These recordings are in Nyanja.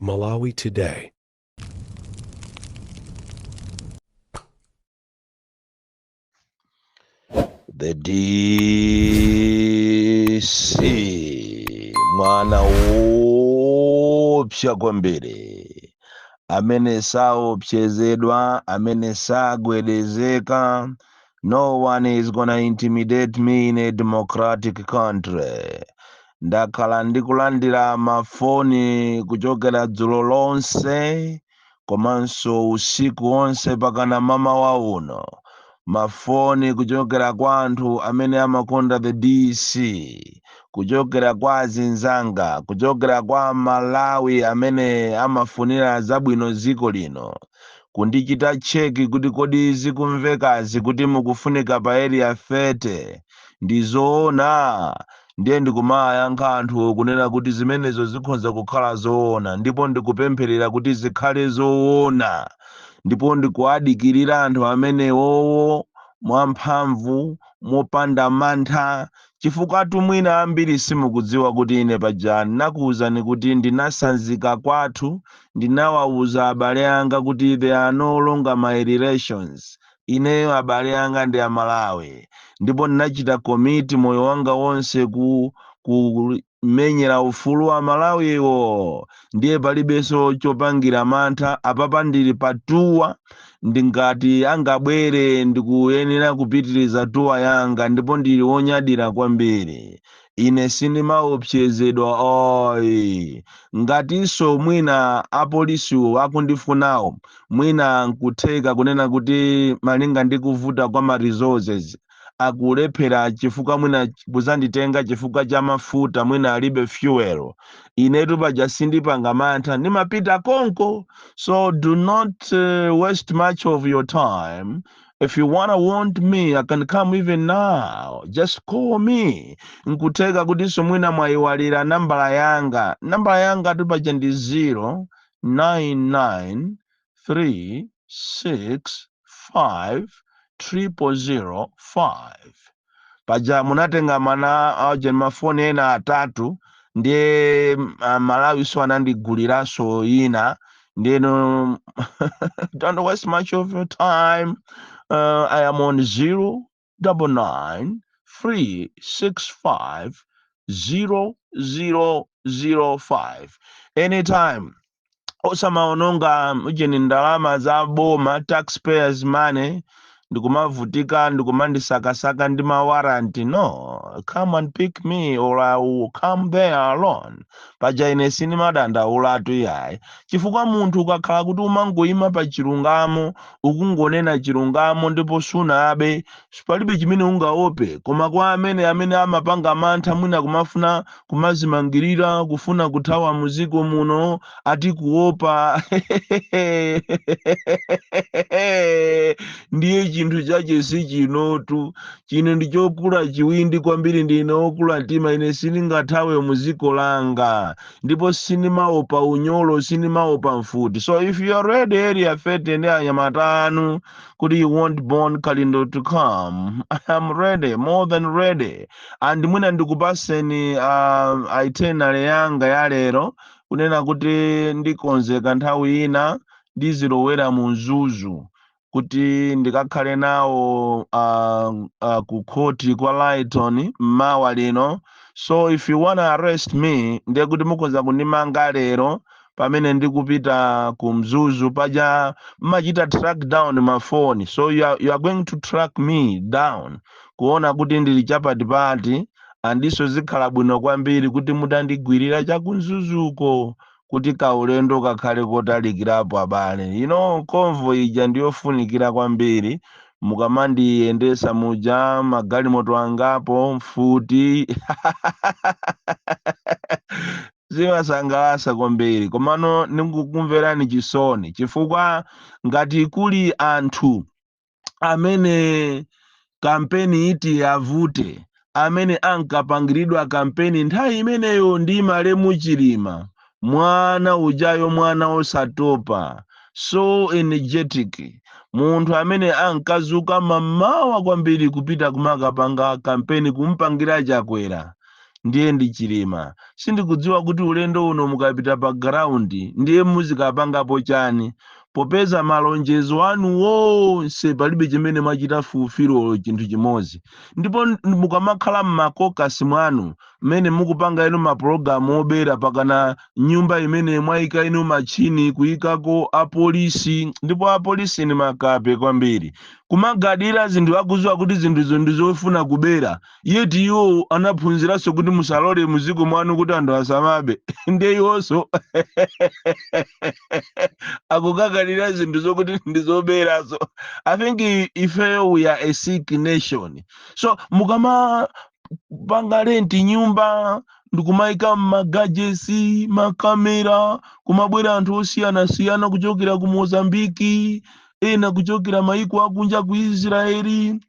Malawi Today. The DC mwana woopsa kwambiri amene saopsezedwa amene sagwedezeka No one is gonna intimidate me in a democratic country. Ndakhala ndikulandira mafoni kuchokera dzulo lonse komanso usiku wonse pakana mamawa uno mafoni kuchokera kwa anthu amene amakonda the dc kuchokera kwa azinzanga kuchokera kwa aMalawi amene amafunira zabwino dziko lino kundichita check kuti kodi zikumvekazi kuti mukufunika pa area 30 ndi zoona ndiye ndikumawayankha anthuwo kunena kuti zimenezo zikhonza kukhala zoona ndipo ndikupempherera kuti zikhale zoona ndipo ndikuwadikirira anthu amenewowo mwamphamvu mopanda mantha Chifukwatu mwina ambiri simukudziwa kuti ine paja ndinakuuzani kuti ndinasanzika kwathu ndinawauza abale anga kuti they are no longer my relations ineyo abale anga ndi aMalawi ndipo ndinachita commit moyo wanga wonse ku ku menyera ufulu wa aMalawiwo ndiye palibenso chopangira mantha apapa ndili pa tuwa ndingati angabwere ndikuyenera kupitiriza tuwa yanga ndipo ndili wonyadira kwambiri ine sindimaopsezedwa ayi ngatinso mwina apolisiwo akundifunawo mwina nkutheka kunena kuti malinga ndi kuvuta kwa ma resources akulephera chifukwa mwina kuzanditenga chifukwa cha mafuta mwina alibe fuel inetu paja sindipanga mantha ndimapita konko so do not uh, waste much of your time if you wanna want me i can come even now just call me nkutheka kutinso mwina mwayiwalira nambala yanga nambala yangatu paja ndi 0 99 3 6 5 triple zero five paja munatenga ma auje mafoni ena atatu ndiye mm, ah, aMalawinso anandiguliranso ina ndeno don't waste much of your time uh, i am on zero double nine three six five zero zero zero five anytime osamaononga ujeni ndalama za boma taxpayers money ndikumavutika ndikumandisakasaka ndi mawaranti no come and pick me or i will come there alone paja ine sindimadandaulatu yayi chifukwa munthu ukakhala kuti umangoyima pa chilungamo ukungonena chilungamo ndipo sunabe palibe chimene ungaope koma kwa amene amene amapanga mantha mwina kumafuna kumazimangirira kufuna kuthawa muziko muno ati kuopa ndiye chinthu chache si chinotu Chino ndi chokula chiwindi kwambiri, ndine wokula mtima, ine sindingathawe mu dziko langa. Ndipo sindimaopa unyolo, sindimaopa mfuti. So if you are ready area 30 ndi anyamata anu kuti you want Bon Kalindo to come, I am ready, more than ready. And mwina ndikupaseni uh, itinerary yanga ya lero kunena kuti ndikonzeka nthawi ina ndizilowera mu Mzuzu. kuti ndikakhale nawo uh, uh, ku khoti kwa Lyton mmawa lino so if you wanna arrest me ndiye kuti mukhoza kundimanga lero pamene ndikupita ku mzuzu paja mmachita track down mafoni so you are, you are going to track me down kuona kuti ndili chapatipati andiso zikhala bwino kwambiri kuti mutandigwirira chakumzuzuko kuti kaulendo kakhale kotalikirapo abale you know convoy ija ndiyofunikira kwambiri mukamandiyendesa muja magalimoto angapo mfuti zimasangalasa kwambiri komano ndikukumverani chisoni chifukwa ngati kuli anthu amene kampeni iti avute amene ankapangiridwa kampeni nthawi imeneyo ndi malemu chilima mwana ujayo mwana osatopa so energetic munthu amene ankazuka mamawa kwambiri kupita kumakapanga kampeni kumpangira chakwera ndiye ndi chilima sindikudziwa kuti ulendo uno mukapita pa ground ndiye muzikapangapo chani popeza malonjezo anu wonse palibe chimene mwachita fulfil olo chinthu chimodzi ndipo n- mukamakhala mmakokasi mwanu mmene mukupanga inu mapulogalamu obera pakana nyumba imene mwayika inu matchini kuyikako apolisi ndipo apolisi ni makape kwambiri kumagadira zinthu akuziwa kuti zinthuzo ndi zofuna kubera yet iwo anaphunziranso kuti musalole muziko mwanu kuti anthu asamabe ndiye iwonso akukagadira zinthu zokuti ndizoberazo i think i- ifeyo we are a sick nation so mukamapanga renti nyumba ndikumaika magajesi makamera kumabwera anthu osiyanasiyana kuchokera ku mozambiki ena kuchokera maiko akunja ku israeli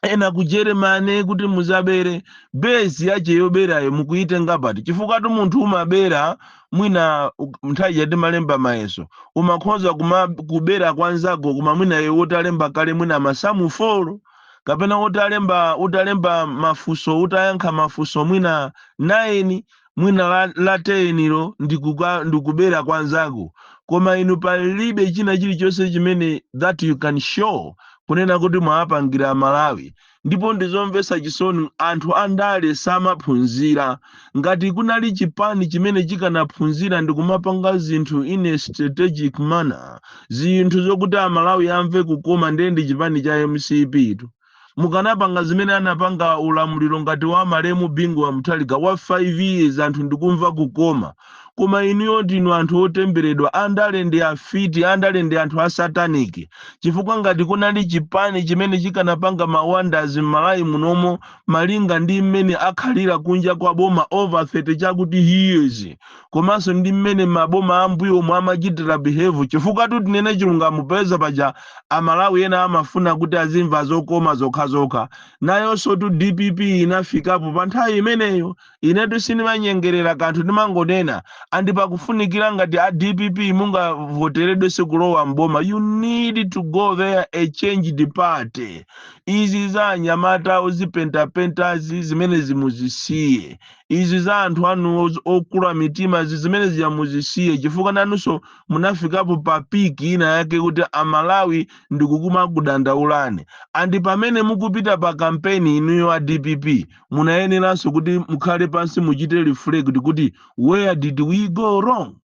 ena ku germany kuti muzabere base yache yoberayo mukuyitenga pati chifukwa tu munthu umabera mwina u- nthawi ija timalemba mayeso umakhoza kumakubera kwa nzako koma mwina iwe utalemba kale mwina masamu folo kapena utalemba utalemba mafunso utayankha mafunso mwina 9 mwina la, la tenilo ndikuka- ndikubera kwa nzako koma inu palibe china chilichonse chimene that you can show kunena kuti mwawapangira amalawi ndipo ndizomvetsa chisoni anthu andale samaphunzira ngati kunali chipani chimene chikanaphunzira ndikumapanga zinthu in a strategic manner zinthu zokuti amalawi amve kukoma ndiye ndi chipani cha mcp tu mukanapanga zimene anapanga ulamuliro ngati wa malemu bingu wa muthalika wa 5 years anthu ndikumva kukoma koma inuyo ndinu anthu otemberedwa andale ndi afiti andale ndi anthu a satanic chifukwa ngati kunali chipani chimene chikanapanga mawonders m'malawi munomo malinga ndi mmene akhalira kunja kwa boma over 30 chakuti years komanso ndi mmene maboma ambuyomo amachitira behave chifukwa-tu tinene chilungamo popeza paja a Malawi ena amafuna kuti azimva zokoma zokhazokha. Nayonso-tu dpp inafikapo pa nthawi imeneyo. Inetu sindimanyengerera kanthu ndimangonena and pakufunikira ngati a dpp mungavoteredwenso kulowa m'boma you need to go there a changed party. Izi za anyamata ozipentapentazi zimenezi muzisiye. Izi za anthu anu okula mitimazi zimene zija muzisiye chifukwa nanunso munafikapo pa peak ina yake kuti a Malawi ndikumakudandaulani and pamene mukupita pa kampeni inuyo a dpp munayeneranso kuti mukhale pansi muchite reflect kuti where did we go wrong?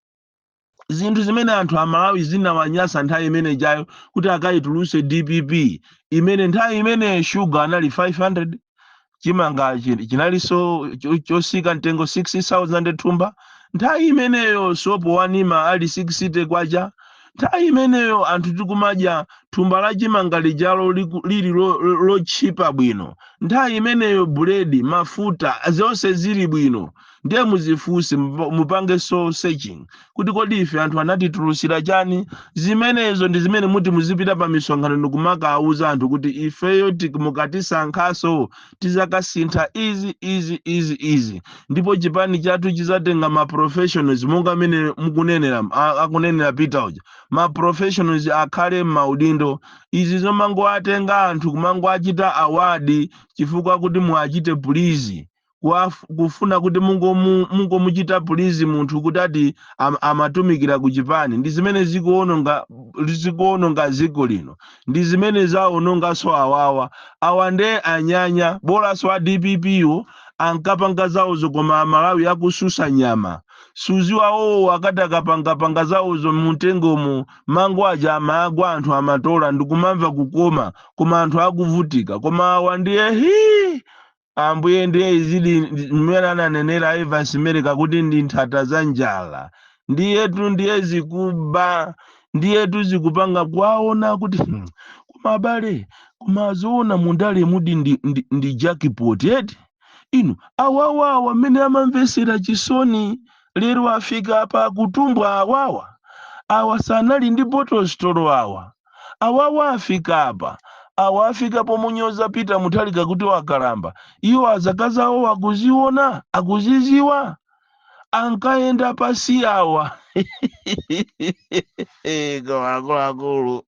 zinthu zimene anthu Amalawi zinawanyasa nthawi imene ijayo kuti akayituluse dpp imene nthawi imene shuga anali 500 chimanga chi- chinalinso cho- chosika mtengo 6000 thumba nthawi imeneyo sopo wanima ali 60 kwacha nthawi imeneyo anthu tikumadya thumba la chimanga lijalo liku- lili lo- lo- lotchipa bwino nthawi imeneyo buledi mafuta zonse zili bwino ndiye muzifunse mupa- mupange soul searching kuti kodi ife anthu anatitulusira chani zimenezo ndi zimene muti muzipita pa misonkhano ndikumakawuza anthu kuti ifeyo tik- mukatisankhanso tizakasintha izi izi izi izi ndipo chipani chathu chizatenga ma professionals monga amene mukunenera a- akunenera peter uja ma professionals akhale m'maudindo izi zomangowatenga anthu kumangoachita award chifukwa kuti muachite please kuwaf- kufuna kuti mungomu- mungomuchita please munthu kuti ati am, amatumikira ku chipani ndi zimene zikuononga zikuononga dziko lino ndi zimene zaononganso awawa awa nde anyanya bolanso a dpp wo ankapanga zawozo koma amalawi akususa nyama suziwa wowo akati akapangapanga zawozo mumtengomo mango aja amagwa anthu amatola ndikumamva kukoma koma anthu akuvutika koma awa ndiye hii Ambuye, ndiye izidi ndi- mmene ananenera Evans Mereka kuti ndi nthata za njala. Ndiyetu ndiye zikuba, ndiyetu zikupanga kwaona kuti hmm, koma abale, kumazoona mundale mudi ndi, ndi, ndi jackpot eti? Inu, awawa awa amene amamvetsera chisoni lero afika apa kutumbwa awawa. Awa sanali ndi bottle store awa. Awawa afika apa. Awa afika pomunyoza Peter Mutharika kuti wakalamba. Iwo zaka zawo akuziona? Akuziziwa? Ankayenda pasi awa. Koma akuluakulu.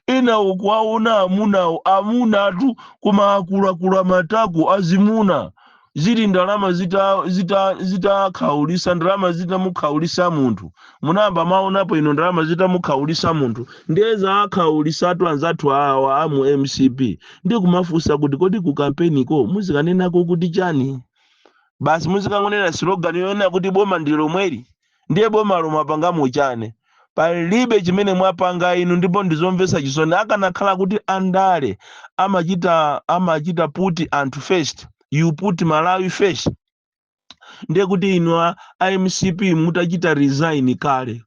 Ina ukuwaona amunawo, amunatu koma akuluakulu amatako azimuna. zili ndalama zitakhaulisa zita, zita zitakhaulisa, ndalama zitamukhaulisa munthu munayamba mwaonapo inu ndalama zitamukhaulisa munthu ndiye zawakhaulisatu anzathu awa a mu mcp ndi kumafunsa kuti kodi ku kampeniko muzikanenako kuti chani basi muzikangonena slogan yonena kuti boma ndi lomweli ndiye bomalo mwapangamo chani? Palibe chimene mwapanga inu ndipo ndizomvetsa chisoni akanakhala kuti andale amachita amachita put anthu first you put Malawi first ndiye kuti inu a a mcp mutachita resign kale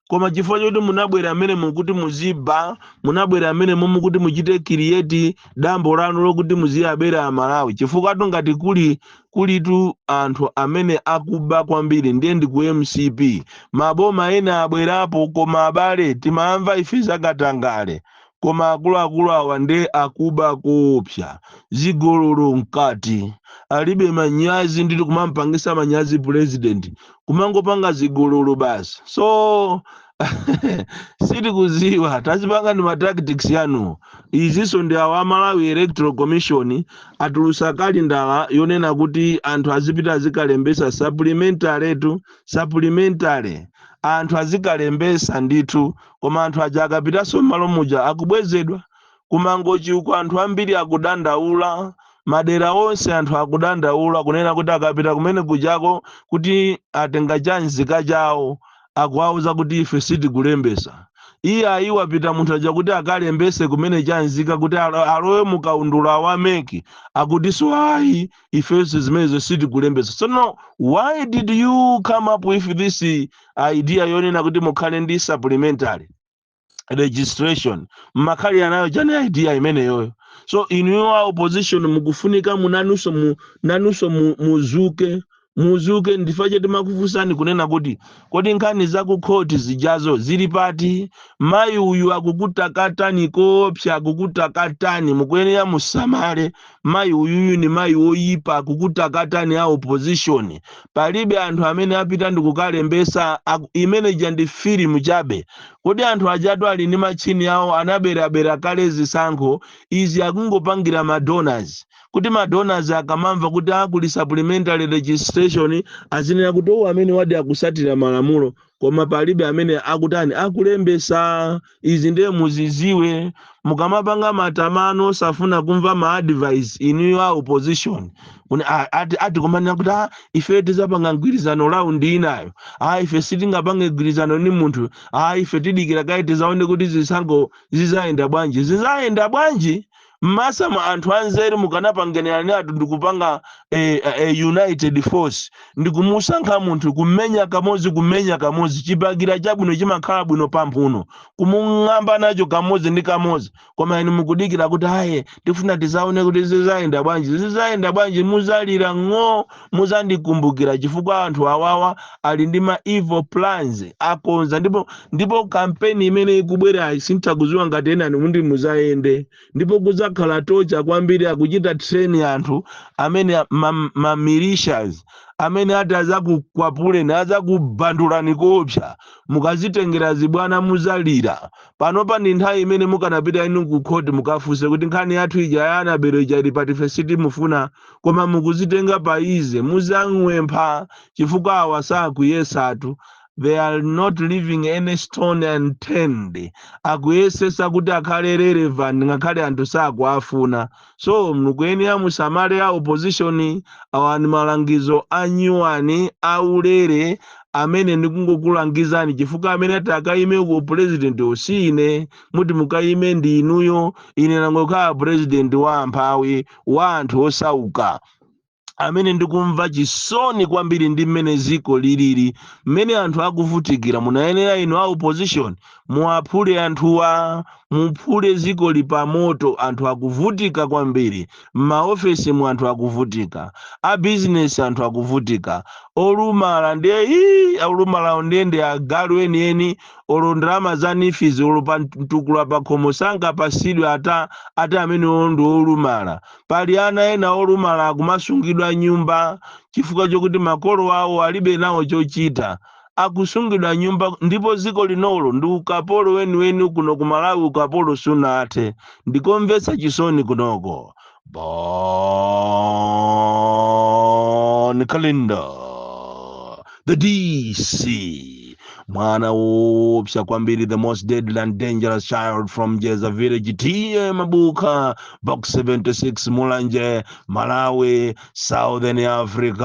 koma chifukwa choti munabwera amene mukuti muziba munabwera amene mukuti muchite create dambo lanu lokuti muziwabera amalawi chifukwatu ngati kuli kulitu anthu amene akuba kwambiri ndiye ndi ku mcp maboma ena abwerapo koma abale timamva ife za katangale koma akuluakulu awa ndiye akuba koopsa zigololo mkati alibe manyazi nditi kumampangisa manyazi president kumangopanga zigololo basi so sitikuziwa kazipangani ma tactics yanuwo izinso ndi awa a malawi electoral commission atulusa kalendala yonena kuti anthu azipita azikalembesa supplementary tu supplementary anthu azikalembesa ndithu koma anthu aja akapitanso m'malo muja akubwezedwa kumangochi uko anthu ambiri akudandaula madera onse anthu akudandaula kunena kuti akapita kumene kujako kuti atenge cha nzika chawo akuwauza kuti ife sitikulembesa iyayi wapita munthu uja kuti akalembese kumene chanzika kuti alo- alowe mu kaundula wa MEC akutinso ayi ifenso zimenezo sitikulembesa so no why did you come up with this idea yonena kuti mukhale ndi supplementary registration mmakhala nayo chani idea imeneyoyo so inuyo a opposition mukufunika munanunso mu, nanunso mu, muzuke muzuke ndi chifukwa chake timakufunsani kunena kuti kodi nkhani za ku khoti zijazo zili pati mayi uyu akukutakatani koopsa akukutakatani mukuyenera musamale Mayi uyuyu ni mayi woyipa akukutakatani a opposition palibe anthu amene apita ndikukalembesa imene ija ndi film chabe kodi anthu ajatu ali ndi matchini awo anaberabera kale zisankho izi akungopangira ma donors kuti ma donors akamamva kuti a kuli supplementary registration azinena kuti oh amenewadi akusatira malamulo koma palibe amene akutani akulembesa izi ndiye muziziwe mukamapanga matamano osafuna kumva ma advice inuyo a opposition Kuni- a- ati ati kumanena kuti "Ah, ife tizapanga mgwirizano raundi inayo a ife sitingapange mgwirizano ni munthu a ife tidikira kaye tizaone kuti zisankho zizayenda bwanji zizayenda bwanji masamu anthu anzeru mukanapanganiranatu ndikupanga a, a, a united force ndikumusankha munthu kumenya kamodzi kumenya kamodzi chibakera chabwino chimakhala bwino pamphuno kumung'amba nacho kamodzi ndi kamodzi koma inu mukudikira kuti aye tifuna tizaone kuti zizayenda bwanji zizayenda bwanji muzalira ng'oo muzandikumbukira chifukwa anthu awawa ali ndi ma evil plans akonza ndipo ndipo kampeni imene ikubwerayi sindikuziwa ngati enanu muti muzayende ndipo kuzakhala kotcha kwambiri akuchita train anthu amene ma, ma militias amene ati azakukwapuleni azakubandulani koopsa mukazitengera zibwana muzalira panopa ndi nthawi imene mukanapita inu ku court mukafunse kuti nkhani yathu ija ya Annabel ija ili pati ife sitimufuna koma mukuzitenga pa easy muzagwa mphwayi chifukwa awa sakuyesatu they are not leaving any stone unturned akuyesesa kuti akhale relevant ngakhale anthu sakuafuna so mukuyenera musamale a opposition awa ni malangizo anyuwani aulere amene ndikungokulangizani chifukwa amene ati akayime ku president si ine muti mukayime ndi inuyo ine nangokhala president wa amphawi wa anthu osauka amene ndikumva chisoni kwambiri ndi mmene ziko lilili mmene anthu akuvutikira munayenera inu a opposition muwaphule anthuwa muphule ziko lili pamoto anthu akuvutika kwambiri m'maofesi mu anthu akuvutika a bizinesi anthu akuvutika olumala ndiye ii olumalawo ndiye ndi agalu enieni olo ndalama za NEEF izi olo pa mtukula pakhomo sangapasidwe ati amenewo ndi olumala pali ana ena olumala akumasungidwa nyumba chifukwa chokuti makolo awo alibe nawo chochita akusungidwa nyumba ndipo ziko linolo ndi ukapolo weniweni kuno kumalawi ukapolo sunathe ndikomvetsa chisoni kunoko Bon Kalindo, the DC, mwana woopsa kwambiri, the most deadly and dangerous child from Jeza village, TA Mabuka, box 76, Mulanje, Malawi, Southern Africa.